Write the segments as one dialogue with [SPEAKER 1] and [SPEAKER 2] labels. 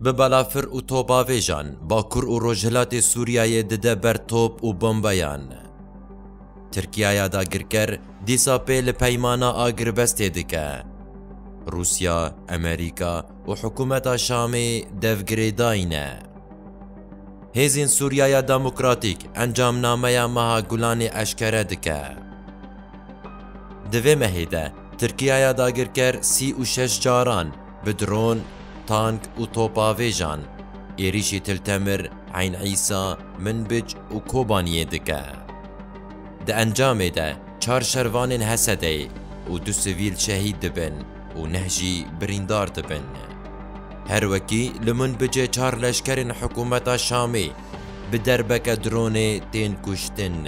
[SPEAKER 1] Bi balafir û topbavêjan Bakur û Rojhilatê Sûriyeyê dide ber top û bombeyan. Tirkiyaya dagirker dîsa pê li peymana agirvestê dike. Rûsya, Emerîka û hikûmeta Şamê dev girêdayîne. Hêzên Sûriyaya Demokratîk encamnameya meha Gulanê eşkere dike. Di vê mehê de Tirkiyaya dagirker sî û şeş caran Bi dron, tank û topavêjan êrîşî Til Temir, Eyn Îsa, Minbic û Kobaniyê dike. Di encamê de çar şervanên Hesedeyê û du sivîl şehîd dibin û neh jî birîndar dibin. Her wekî li Minbicê çar leşkerên hikûmeta Şamê bi derbeke dronê tên kuştin.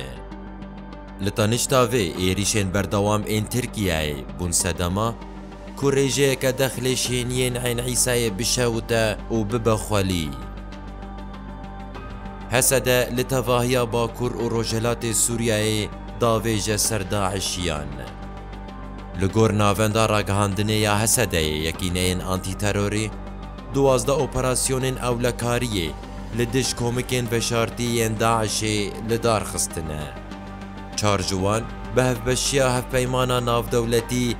[SPEAKER 1] Li tenişta vê êrîşên berdewam ên Tirkiyeyê bûn sedema, Ku rêjeyeke dexlê şêniyên Eyn Îsayê bişewite û bibe xwelî. Hesede li tevahiya Bakur û Rojhilatê Sûriyeyê davêje ser DAIŞiyan. Li gor navenda ragihandinê ya Hesedeyê yekîneyên antîterorê, duwazdeh operasyonên ewlekariyê li dij komikên veşartî yên DAIŞê lidar xistine. Çar ji wan bi hevbeşiya Hevpeymana Navdewletî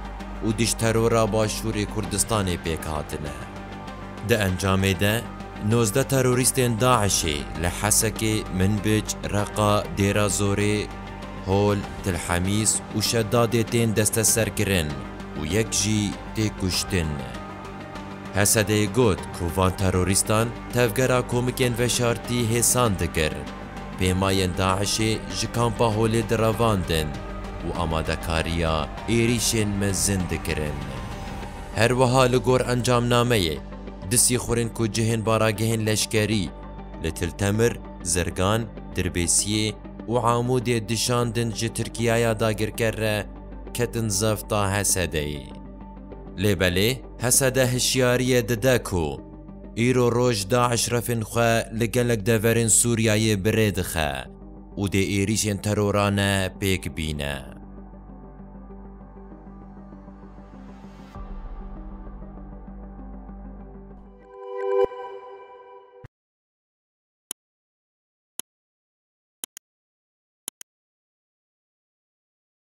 [SPEAKER 1] û Dijterora Başûrê Kurdistanê pêk hatine. Di encamê de nozdeh terorîstên DAIŞ'ê li Hesekê, Minbic, Reqa, Dêrazorê, Hol, Tilhemîs û Şedadê tên desteserkirin û yek jî tê kuştin. Hesedê got ku van terorîstan tevgera komikên veşartî hêsan dikir pêmayên DAIŞ'ê ji Kampa Holê direvandin û amadekariya êrîşên mezin dikirin. Her wiha li gor encamnameyê, du sîxurên ku cihên baragehên leşkerî li Til Temir, Zirgan, Dirbêsiyê û Amûdê dişandin ji Tirkiyaya dagirker re ketin zefta Hesedeyê. Lê belê Hesede hişyariyê dide ku Îro roj DAIŞ refên xwe li gelek deverên Sûriyeyê bi rê dixe û dê êrîşên terorane pêk bîne.